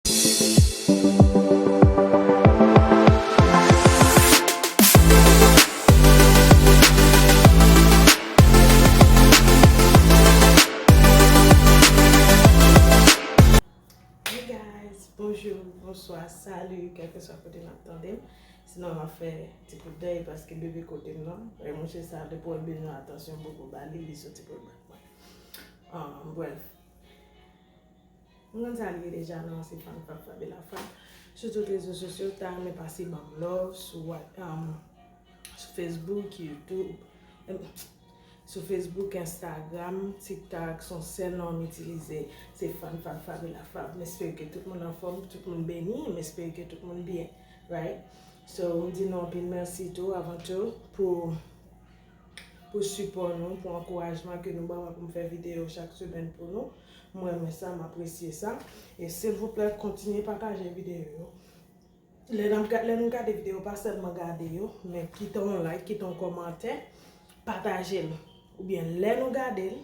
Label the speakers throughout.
Speaker 1: Hey guys, bonjour, bonsoir, salut, kelkeswa kote nap tande m, si nou map fè ti kout dèy paske bebe kote m nan, e mouche sa depi wèl bezwen atansyon m poko bali li soti pou l bat mwen, bref. M konn sa l ye deja nan se fan kap frape la frap sou tout rezo sosyo ta renmen pase banm love sou facebook youtube sou facebook instagram tiktak son sèl non m itilize se fan kap frape la frap m espere ke tout moun anfom tout moun beni m espere ke tout moun byen right so m di nou anpil mèsi tou avan tou pou pou sipò nou, pou ankourajman ke nou ban mwen pou m fè videyo chak semèn pou nou. M renmen sa, m apresye sa. E silvouplè kontinye pataje videyo yo. Lè n ap, lè nou gade videyo, pa sèlman gade yo, men kite yon like, kite yon kòmantè, pataje l. Oubyen lè nou gade l.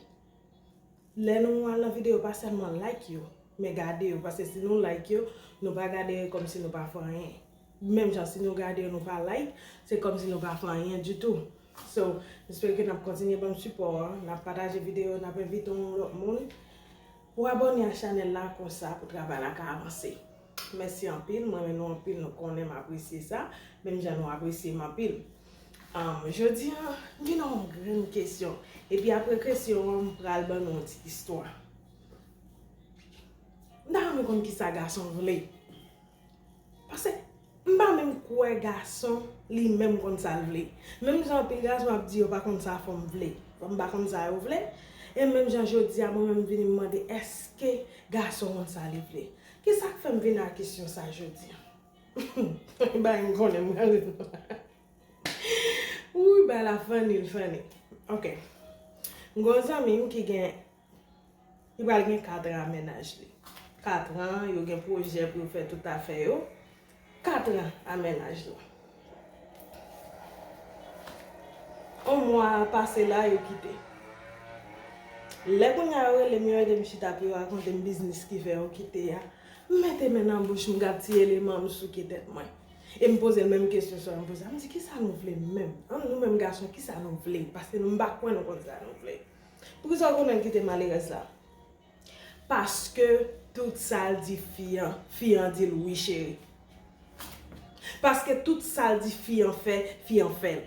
Speaker 1: Lè nou al nan video pa sèlman like yo men gade yo paske si nou like yo nou pa gade yo kòmsi nou pa fè anyen menm jan si nou gade yo nou pa like se kòmsi nou pa fè anyen ditou so jespè ke nap kontinye banm sipò an nap pataje video yo nap envite yon lòt moun pou abòne a chanèl la konsa pou travay la ka avanse mèsi anpil mwen renmen nou anpil nou konnen m apresye sa menm jan nou apresye m anpil. Jodi an, m gen yon grenn kesyon. Epi apre kesyon an, m pral ban nou yon ti istwa. M ta renmen konn ki sa gason vle. Pase, m pa menm kwè gason li menm konn sa l vle. Menm jan anpil gason ap di yo pa konn sa fanm vle. Fanm pa konn sa yo vle. E menm jan jodi a, mwen menm m vini m mande èske gason konn sa li vle. Ki sa k fè m vini ak kesyon sa jodi an? Humm bagay m konnen m pral ri Wouyy bagay la funny l funny Ok M gen yon zanmi m ki gen Li pral gen 4 ans a mennaj li 4 ans yo gen pwojè pou yo fè tout afè yo 4 ans a mennaj la On mwa pase la yo kite Lè kounya yo rele m yo ede m chita pou yo rakonte m biznis ki fè yo kite a M mete men nan bouch m gad ti eleman m souke tèt mwen. E m poze l menm kesyon sa m poze a m di kisa nou vle menm? An nou menm gason kisa nou vle? Paske nou m pa kwè nou konn sa nou vle. Poukisa w kontan kite malerèz la? Paske tout sa l di fi an, fi an di l wi cheri. Paske tout sa l di fi an fè, fi an fè l.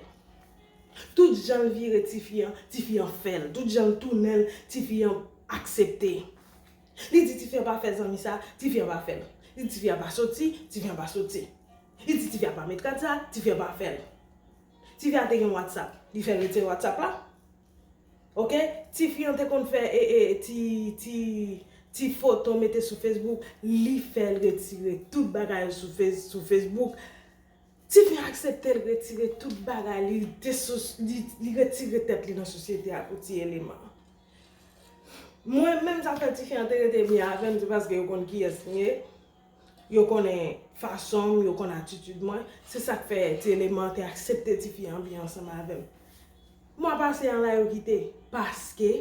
Speaker 1: Tout jan l vire ti fi an, ti fi an fè l. Tout jan l tounen l, ti fi an aksepte. Li di tifi an pa fè zanmi sa, tifi an pa fè l. Li di tifi an pa soti, tifi an pa soti. Li di tifi an pa met kad sa, tifi an pa fè l. Tifi an te gen whatsapp, li fè retire whatsapp la. Ok, tifi an te konn fè ti foto mete sou facebook, li fè l retire tout bagay yo sou facebook. Tifi an aksepte l retire tout bagay li, li retire tèt li nan sosyete a pou ti eleman. Mwen menm sa fè tifi an te rete byen avèm se paske yo konn kiyès m ye, yo konnen fason m, yo konn atitid mwen, se sak fè ti eleman te aksepte tifi an byen ansanm avèm. Mwa pase an la yo kite paske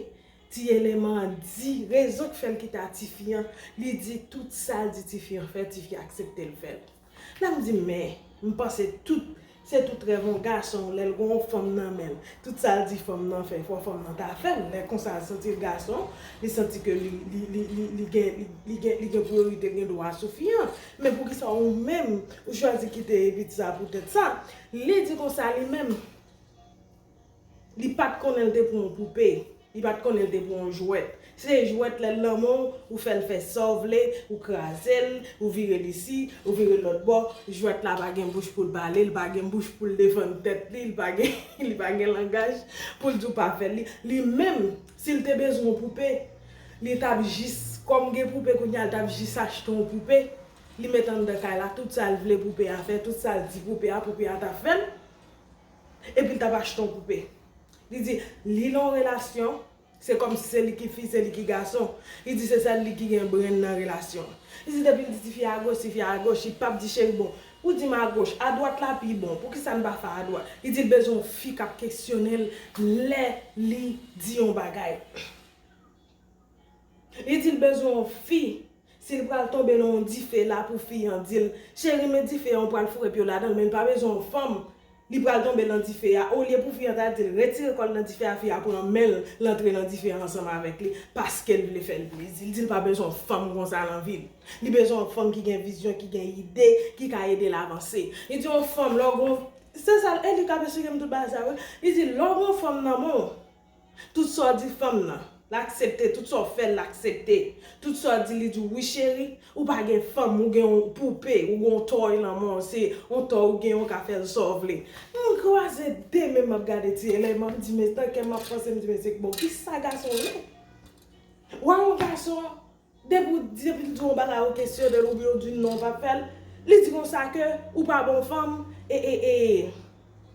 Speaker 1: ti eleman an di rezon k fè l kite a tifi an, li di tout sa l di tifi an fè, tifi aksepte l fè l. Lè m di men, m panse tout, se tout rèv on gason lè l gon on fanm nan men l. Tout sa l di fanm nan fè, fò fanm nan ta fè l. Lè konsa l santi l gason, li santi ke li, li, li, li, li gen, li, li gen, li gen priyorite, li gen dwa sou fi an. Men poukisa ou menm, ou chwazi kite Evit sa pou tèt sa? Li di konsa li menm. Li pat konnen l te pou yon poupe, li pat konnen l te pou yon jwèt. Si se jwèt lè l lanmò w, ou fè l fè sa w vle, ou kraze l, ou vire l isi, ou vire l lòt bò, jwèt la pa gen bouch pou l pale, li pa gen bouch pou l defann tèt li, li pa gen langaj pou l di w pa fè l. Li, li menm, si l te bezwen yon poupe, li t ap jis, kòm gen poupe kounye a, li t ap jis achte yon poupe, li met anndan kay la, tout sa l vle poupe a fè, tout sa l di poupe a, poupe a t ap fè l. Epi li t ap achte yon poupe. Li di, li nan yon relasyon, se kòmsi se li ki fi, se li ki gason. Li di se sèl li ki gen brenn nan relasyon an. Li di depi l di tifi a agoch, tifi a agoch, li pap di cheri bon, ou di m agoch, adwat la pi bon, poukisa n pa fè adwat? Li di l bezwen yon fi k ap kesyone l lè li di yon bagay. Li dil bezwen yon fi sil pral tonbe nan yon dife la pou fi an dil cheri men dife an ou pral foure pyew ladanl menl pa bezwen yon fanm li pral tonbe nan dife a olye pou fi an ta dil retire kòl nan dife a fi a pran menl l antre nan dife a ansanm avèk li paskel vle fèl plezi li dil pa bezwen yon fanm konsa nan vil li bezwen yon fanm ki gen vizyon ki gen ide ki ka edel avanse li di yon fanm lè w gon se sa e li kap esplikem tout bagay sa wi li di lè w gon fanm nan menw Tout sa w di fanm nan, l aksepte, tout sa w fè l, l aksepte, tout sa w di l, li di w wi cheri, ou pa gen fanm, ou gen yon poupe, ou gen yon tòy lanmò, se yon tòy ou gen ou ka fè l sa w vle. M kwaze 2 men m ap gade ti Elèy m ap di men tan kè m ap panse m di men se bon kisa gason ye? Wè yon gason Depi ou di depi l di w yon bagay ou kesyone l oubyen ou di non ou pa p fè l, li di konsa ke ou pa bon fanm e e e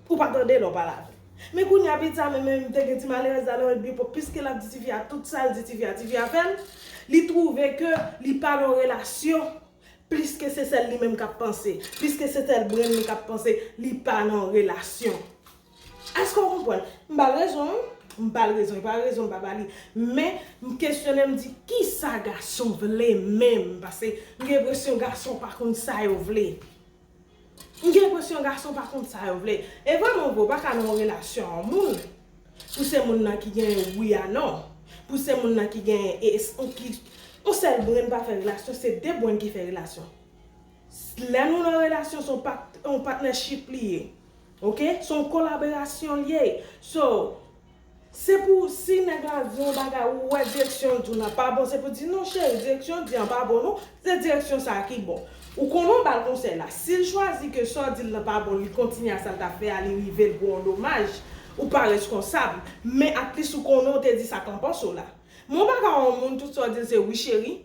Speaker 1: pou w pa tande lè w pale avè l. Men kounya pitit sa menm menm te gen ti malerèz la nan yon epòk piske l ap di tifi a tout sa l di tifi a tifi a fè l, li twouve ke li pa nan yon relasyon pliske se sèl li menm k ap panse, pliske se sèl brenn li k ap panse, li pa nan yon relasyon. Èske w konprann? M ba l rezon wi. M ba l rezon. E pa rezon m pa ba li. Men, m kesyone m di, kisa gason vle menm? Pase m gen enpresyon gason pa konn sa yo vle. M gen enpresyon gason pa konn sa yo vle. E vrèman vre, ou pa ka nan yon relasyon yon moun pou se moun nan ki gen wi a non. Pou se moun nan ki gen e eston ki Yon sèl brenn pa fè relasyon, se de brenn ki fè relasyon. Lè nou nan relasyon se yon pat yon patnèchip li ye. Ok se yon kolaborasyon l ye so se pou si nèg la di yon bagay ou wè direksyon l di w nan pa bon se pou di non cheri direksyon w di an pa bon non se direksyon sa ki bon ou konnen w ba l konsèy la si l chwazi ke sa w di l nan pa bon li kontinye a sa l t ap fè a li rive l pou yon domaj ou pa reskonsab men atlis ou konnen w te di sa k lan panse w la men w pa ka wè yon moun tout sa w di l se wi cheri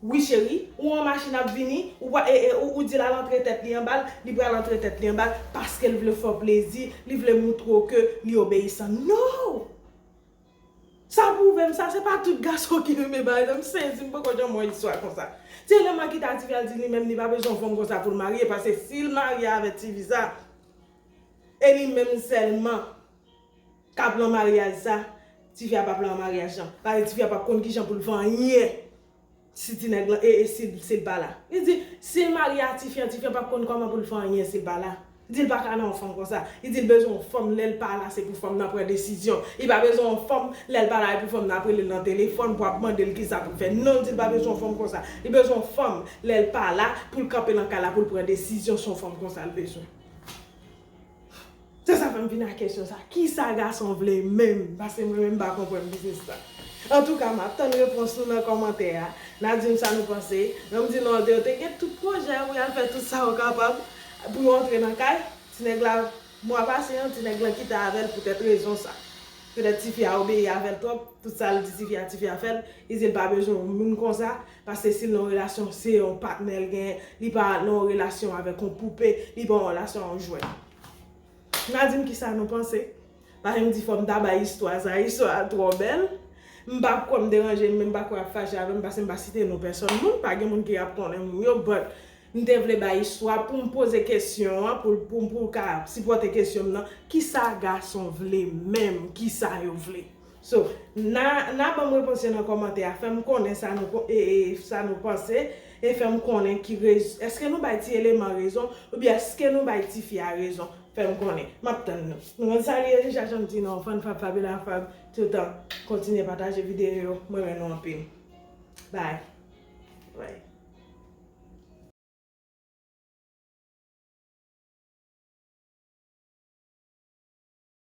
Speaker 1: Wi cheri, ou an machin ap vini, ou pa e e ou ou dil al antre tèt li anbal, li pral antre tèt li anbal paskel vle fèw plezi, li vle moutre w ke li obeyisan. No! Sa pwouve m sa se pa tout gason ki renmen bagay sa, m sezi m poko janm wè istwa konsa. Se lè Makita a Tivi al di li menm li pa bezwen yon fanm konsa poul marye paske sil marye avè Tivi sa e li menm sèlman. Ka plan maryaj sa, tifi a pa plan maryaj lan. Pale tifi a pap konn kijan poul vanyen si ti nèg lan ee sil pa la. Li di sil marye a tifi an, tifi an pap konn kòman poul vanyen sil pa la. Li dil pa ka nan yon fanm konsa. Li dil bezwen yon fanm lèl pa la se pou fanm nan pran desizyon. Li pa bezwen yon fanm lèl pa la epou fanm nan ap relel nan telefòn pou ap mandel kisa poul fè. Non li dil pa bezwen yon fanm konsa. Li bezwen yon fanm lèl pa la poul kanpe nan kay la poul pran desizyon se yon fanm konsa li bezwen. Se sa fèm vin ak kesyon sa. Kisa gason vle menm? Paske mwen menm m pa konprann biznis la. Antouka map tann repons nou nan kòmantè a. Na dim sa nou panse. Ranm di non yo te gen tout pwojè pou yal fè tout sa yo kapab pou yo antre nan kay. Ti nèg la mwa pase an ti nèg lan kite avèl poutèt rezon sa. Petèt tifi a obeyi avèl twòp, tout sal di tifi a tifi a fèl, li dil pa bezwen moun konsa, Paske sil nan yon relasyon se yon patnè l gen, li pa nan yon relasyon avèk yon poupe, li pa nan yon relasyon ak yon jwèt. Na dim kisa nou panse. Paske m di fòm ta bay istwa sa, istwa a twò bèl. M pa kwè m deranje m men m pa kwè yap fache avèm paske m pa site non pèsòn moun, pa gen moun ki ap konnen moun yo but m te vle bay istwa poum poze kesyon an pou pou ka sipòte kesyon m nan, kisa gason vle menm, kisa yo vle? So na na banm repons yo nan kòmantè a fèm konnen sa nou ko ee sa nou panse e fèm konnen ki rez eske nou bay ti eleman rezon oubyen eske nou bay tifi a rezon fèm konnen map tann nou. Nou konn sa li ye deja janm di nou fan fab fabela fab toutan kontinye pataje videyo yo m renmen nou anpil bye.